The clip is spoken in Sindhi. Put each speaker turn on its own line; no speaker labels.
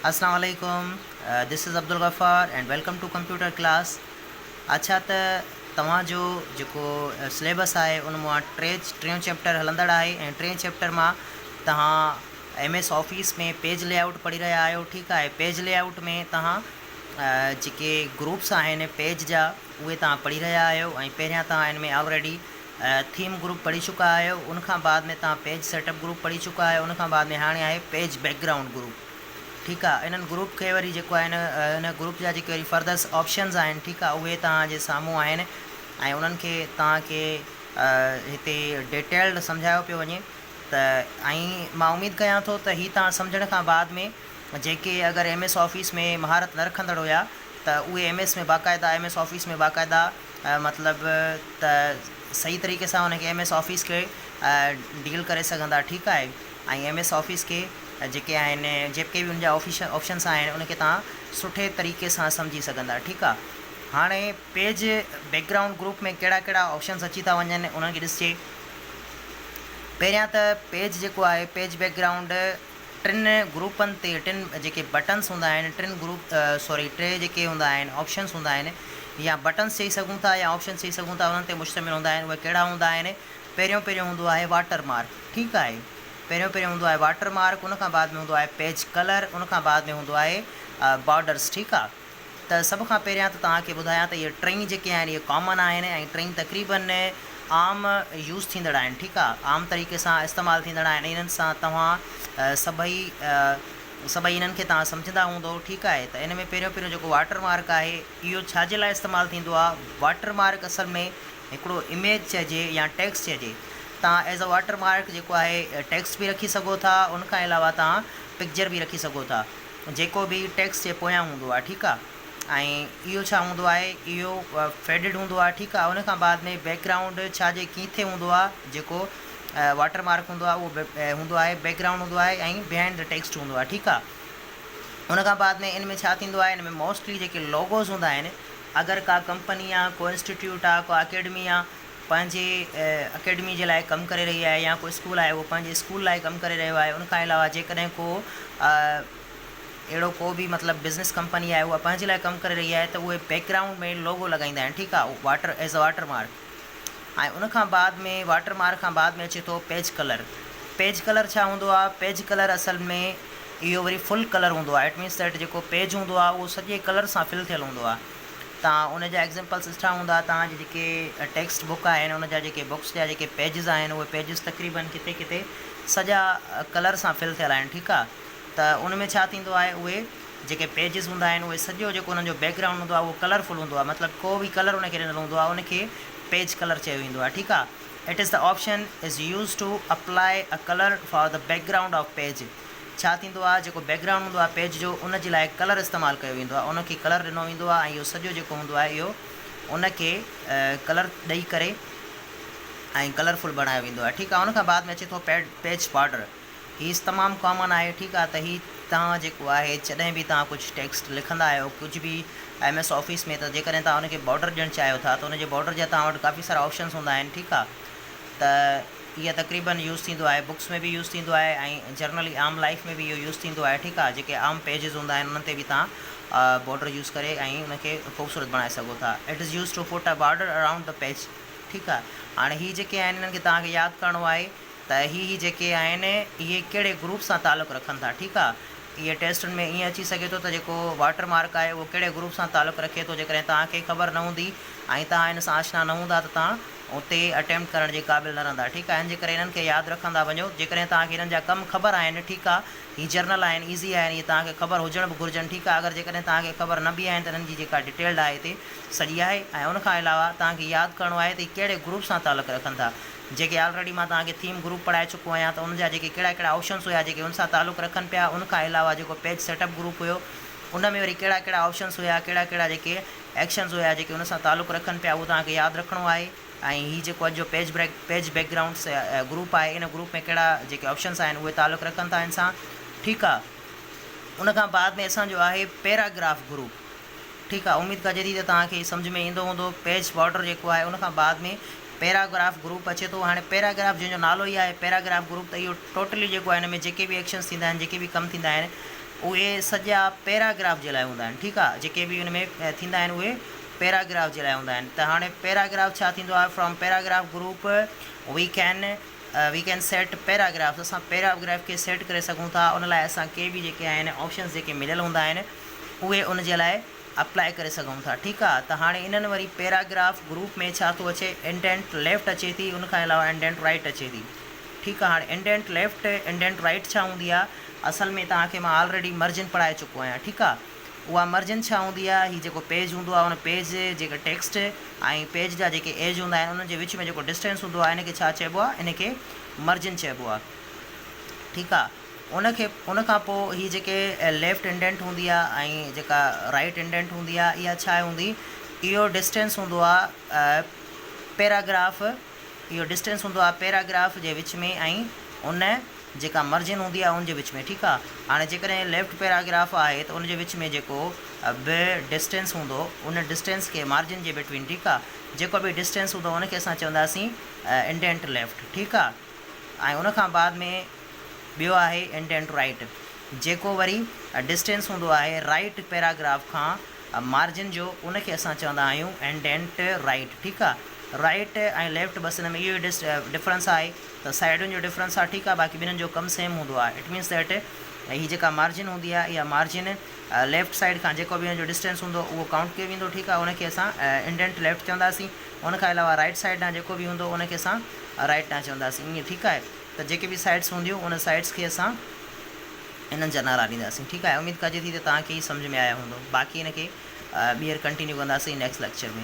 اسلام عليڪم this is Abdul Ghaffar and welcome to computer class اڇا ته توهان جو جيڪو سليبس آهي ان مان ٽي ٽيون چيپٽر هلندڙ آهي ۽ ٽي چيپٽر مان توهان M S office ۾ page layout پڙهي رهيا آهيو ٺيڪ آهي پيج لي آئوٽ ۾ توهان جيڪي گروپس آهن پيج جا اهي توهان پڙهي رهيا آهيو ۽ پهريان توهان ان ۾ آلريڊي ٿيم گروپ پڙهي چڪا آهيو ان کان بعد ۾ توهان پيج سيٽ اپ گروپ پڙهي چڪا آهيو ان کان بعد ۾ هاڻي آهي پيج بيڪ گرائونڊ گروپ ٺيڪ آهي انهن گروپ کي وري جيڪو آهي نه ان گروپ جا جيڪي وري فردر آپشنز آهن ٺيڪ آهي اهي توهان جي سامهون آهن ۽ انهن کي توهان کي هتي ڊيٽيلڊ سمجهايو پيو وڃي ته ائين مان اميد ڪيان ٿو ته هي توهان سمجهڻ کان بعد ۾ جيڪي اگر ايم ايس آفيس ۾ مهارت نه رکندڙ هيا ته اهي ايم ايس ۾ باقاعده ايم ايس آفيس ۾ باقاعده مطلب ته صحيح طريقي سان ان کي ايم ايس آفيس کي ڊيل ڪري سگهندا ٺيڪ آهي ۽ ايم ايس آفيس کي جيڪي آهن جيڪي به ان جا آفيشل آپشنس آهن ان کي تان سٺي طريقي سان سمجهي سگهندا ٺيڪ آهي هاڻي پيج بيڪ گرائونڊ گروپ ۾ ڪهڙا ڪهڙا آپشنس اچي ٿا وڃن انهن کي ڏسجي پهريان ته پيج جيڪو آهي پيج بيڪ گرائونڊ ٽن گروپن تي ٽن جيڪي بٽنس هوندا آهن ٽن گروپ سوري ٽي جيڪي هوندا آهن آپشنس هوندا آهن يا بٽنس چئي سگهون ٿا يا آپشنس چئي سگهون ٿا انهن تي مشتمل هوندا آهن اهي ڪهڙا هوندا آهن پهريون پهريون هوندو آهي واٽر مارڪ ٺيڪ آهي پهريون پهريون هوندو آهي واٽر مارڪ ان کان بعد ۾ هوندو آهي پيج ڪلر ان کان بعد ۾ هوندو آهي بارڊرس ٺيڪ آهي. ته سڀ کان پهريان ته توهان کي ٻڌايان ته اهي ٽئي جيڪي آهن اهي ڪامن آهن ۽ ٽئي تقريبن عام يوز ٿيندڙ آهن ٺيڪ آ عام طريقي سان استعمال ٿيندڙ آهن انهن سان توهان سڀئي سڀئي انهن کي توهان سمجهندا هوندئو ٺيڪ آهي ته ان ۾ پهريون پهريون جيڪو واٽر مارڪ آهي اهو ڇا جي لاء استعمال ٿيندو آ واٽر مارڪ اصل ۾ هڪڙو اميج چئجي يا ٽيڪس چئجي توهان ايز ا واٽر مارڪ جيڪو آهي ٽيڪس به رکي سگهو ٿا ان کان علاوه توهان پڪجر به رکي سگهو ٿا. جيڪو به ٽيڪس جي پويان هوندو آهي ٺيڪ آهي ۽ اهو ڇا هوندو آهي اهو فيڊڊ هوندو آهي ٺيڪ آهي ان کان بعد ۾ بيڪ گرائونڊ ڇا جي ڪيٿي هوندو آهي جيڪو واٽر مارڪ هوندو آهي اهو هوندو آهي بيڪ گرائونڊ هوندو آهي ۽ بيهائنڊ دي ٽيڪسٽ هوندو آهي ٺيڪ آهي ان کان بعد ۾ ان ۾ ڇا ٿيندو آهي ان ۾ موسٽلي جيڪي لوگوز هوندا آهن اگر ڪا ڪمپني آهي ڪو انسٽيٽيوٽ آهي ڪو اڪيڊمي آهي پنهنجي اڪيڊمي جي لاء ڪم ڪري رهي آهي يا ڪو اسڪول آهي اهو پنهنجي اسڪول لاء ڪم ڪري رهيو آهي ان کان علاوه جيڪڏهن ڪو اهڙو ڪو به مطلب بزنس ڪمپني آهي اها پنهنجي لاء ڪم ڪري رهي آهي ته اهي بيڪگرائونڊ ۾ لوگو لڳائيندا آهن ٺيڪ آهي اهو water as a watermark ۽ ان کان بعد ۾ واٽر مارڪ کان بعد ۾ اچي ٿو پيج ڪلر پيج ڪلر ڇا هوندو آهي پيج ڪلر اصل ۾ اهو وري فل ڪلر هوندو آهي ايٽ مينس ٽيٽ جيڪو پيج هوندو آهي اهو سڄي ڪلر سان فل ٿيل هوندو آهي تان ان جا ايگزيمپلس ڏٺا هوندا تان جي جيڪي ٽيڪسٽ بڪ آهن ان جا جيڪي بڪس جا جيڪي پيجز آهن اهي پيجز تقريبن ڪٿي ڪٿي سڄا ڪلر سان فل ٿيل آهن ٺيڪ آهي ته ان ۾ ڇا ٿيندو آهي اهي جيڪي پيجز هوندا آهن اهي سڄو جيڪو انهن جو بيڪ گرائونڊ هوندو آهي اهو ڪلر فل هوندو آهي مطلب ڪو به ڪلر ان کي ڏنل هوندو آهي ان کي پيج ڪلر چيو ويندو آهي ٺيڪ آهي it is the option is use to apply a colour for the background of page ڇا ٿيندو آهي جيڪو بيڪ گرائونڊ هوندو آهي پيج جو ان جي لاء ڪلر استعمال ڪيو ويندو آهي ان کي ڪلر ڏنو ويندو آهي ۽ اهو سڄو جيڪو هوندو آهي اهو ان کي ڪلر ڏئي ڪري ۽ ڪلر فل بڻايو ويندو آهي ٺيڪ آهي ان کان بعد ۾ اچي ٿو پيڊ پيج بارڊر هي تمام ڪامن آهي ٺيڪ آهي ته هي توهان جيڪو آهي جڏهن به توهان ڪجهه ٽيڪسٽ لکندا آهيو ڪجهه به ايم ايس آفيس ۾ ته جيڪڏهن توهان ان کي بارڊر ڏيڻ چاهيو ٿا ته ان جي بارڊر جا توهان وٽ ڪافي سارا آپشنس هوندا آهن ٺيڪ آهي ته اهي تقريبن يوز ٿيندو آهي بڪس ۾ به يوز ٿيندو آهي ۽ جرنلي عام لائف ۾ به اهو يوز ٿيندو آهي ٺيڪ آهي جيڪي عام پيجز هوندا آهن انهن تي به توهان بارڊر يوز ڪري ۽ ان کي خوبصورت بڻائي سگهو ٿا it is use to put a border around the page ٺيڪ آهي هاڻي هي جيڪي آهن انهن کي توهان کي ياد ڪرڻو آهي ته هي هي جيڪي آهن اهي ڪهڙي گروپ سان تعلق رکن ٿا ٺيڪ آهي اهي ٽيسٽن ۾ ائين اچي سگهي ٿو ته جيڪو واٽر مارڪ آهي اهو ڪهڙي گروپ سان تعلق رکي ٿو جيڪڏهن توهان کي خبر نه هوندي ۽ توهان ان سان آشنا نه هوندا ته توهان اتي اٽيمپٽ ڪرڻ جي قابل نه رهندا ٺيڪ آهي ان جي ڪري انهن کي ياد رکندا وڃو جيڪڏهن توهان کي انهن جا ڪم خبر آهن ٺيڪ آ هي جرنل آهن ايزي آهن اهي توهان کي خبر هجڻ به گهرجن ٺيڪ آ اگر جيڪڏهن توهان کي خبر نه به آهن ته انهن جي جيڪا ڊيٽيلڊ آهي هتي سڄي آهي ۽ ان کان علاوه توهان کي ياد ڪرڻو آهي ته هي ڪهڙي گروپ سان تعلق رکن ٿا جيڪي آلريڊي مان توهان کي ٿيم گروپ پڙهائي چڪو آهيان ته ان جا جيڪي ڪهڙا ڪهڙا آپشنس هيا جيڪي ان سان تعلق رکن پيا ان کان علاوه جيڪو پيج سيٽ اپ گروپ هيو ان ۾ وري ڪهڙا ڪهڙا آپشنس هيا ڪهڙا ڪهڙا جيڪي ايڪشنز هيا جيڪي ان سان تعلق رکن پيا اهو توهان کي ياد رکڻو آهي ۽ هي جيڪو اڄ جو page break page backgrounds group آهي ان گروپ ۾ ڪهڙا جيڪي آپشنز آهن اهي تعلق رکن ٿا ان سان ٺيڪ آهي ان کان بعد ۾ اسان جو آهي پيراگراف گروپ ٺيڪ آهي اميد ڪجي ٿي ته توهان کي سمجھ ۾ ايندو هوندو پيج بارڊر جيڪو آهي ان کان بعد ۾ پيراگراف گروپ اچي ٿو هاڻي پيراگراف جنهن جو نالو ئي آهي پيراگراف گروپ ته اهو ٽوٽلي جيڪو آهي ان ۾ جيڪي به ايڪشنز ٿيندا آهن جيڪي به ڪم ٿيندا آهن اهي سڄا پيراگراف جي لاء هوندا آهن ٺيڪ آهي جيڪي به ان ۾ ٿيندا آهن اهي پيراگراف جي لاء هوندا آهن ته هاڻي پيراگراف ڇا ٿيندو آهي from paragraph group we can we can set paragraphs اسان پيراگراف کي سيٽ ڪري سگهون ٿا ان لاء اسان ڪي به جيڪي آهن آپشنس جيڪي مليل هوندا آهن اهي ان جي لاء اپلائي ڪري سگهون ٿا ٺيڪ آهي ته هاڻي انهن وري پيراگراف گروپ ۾ ڇا ٿو اچي انڊينٽ ليفٽ اچي ٿي ان کان علاوه انڊينٽ رائٽ اچي ٿي ٺيڪ آ هاڻي انڊينٽ ليفٽ انڊينٽ رائيٽ ڇا هوندي آ اصل ۾ توهان کي مان آلريڊي مرجن پڙهائي چڪو آهيان ٺيڪ آ اها مرجن ڇا هوندي آ هي جيڪو پيج هوندو آ ان پيج جيڪي ٽيڪسٽ ۽ پيج جا جيڪي ايج هوندا آهن انهن جي وچ ۾ جيڪو ڊسٽينس هوندو آ ان کي ڇا چئبو آ ان کي مرجن چئبو آ ٺيڪ آ ان کي ان کان پوء هي جيڪي ليفٽ انڊينٽ هوندي آ ۽ جيڪا رائيٽ انڊينٽ هوندي آ اها ڇا هوندي اهو ڊسٽينس هوندو آ پيراگراف اهو ڊسٽينس هوندو آهي پيراگراف جي وچ ۾ ۽ ان جيڪا مرجن هوندي آهي ان جي وچ ۾ ٺيڪ آهي هاڻي جيڪڏهن ليفٽ پيراگراف آهي ته ان جي وچ ۾ جيڪو به ڊسٽينس هوندو ان ڊسٽينس کي مارجن جي بٽوين ٺيڪ آهي جيڪو به ڊسٽينس هوندو ان کي اسان چونداسين انڊينٽ ليفٽ ٺيڪ آهي ۽ ان کان بعد ۾ ٻيو آهي انڊينٽ رائيٽ جيڪو وري ڊسٽينس هوندو آهي رائيٽ پيراگراف کان مارجن جو ان کي اسان چوندا آهيون انڊينٽ رائيٽ ٺيڪ آ رائيٽ ۽ ليفٽ بس ان ۾ اهو ئي ڊفرنس آهي ته سائيڊن جو ڊفرنس آ ٺيڪ آ باقي ٻنهن جو ڪم سيم هوندو آ اٽ مينس ڌيٽ هي جيڪا مارجن هوندي آ اها مارجن ليفٽ سائيڊ کان جيڪو به ان جو ڊسٽينس هوندو اهو ڪائونٽ ڪيو ويندو ٺيڪ آ ان کي اسان انڊينٽ ليفٽ چونداسين ان کان علاوه رائيٽ سائيڊ ڏانهن جيڪو به هوندو ان کي اسان رائيٽ ڏانهن چونداسين ائين ٺيڪ آهي ته جيڪي به سائيڊس هونديون ان سائيڊس کي اسان انهن جا نعرا ڏينداسين ٺيڪ آهي اميد ڪجي ٿي ته توهان کي هي سمجهه ۾ آيا هوندو باقي ان کي ٻيهر ڪنٽينيو ڪنداسين نيڪسٽ ليڪچر ۾.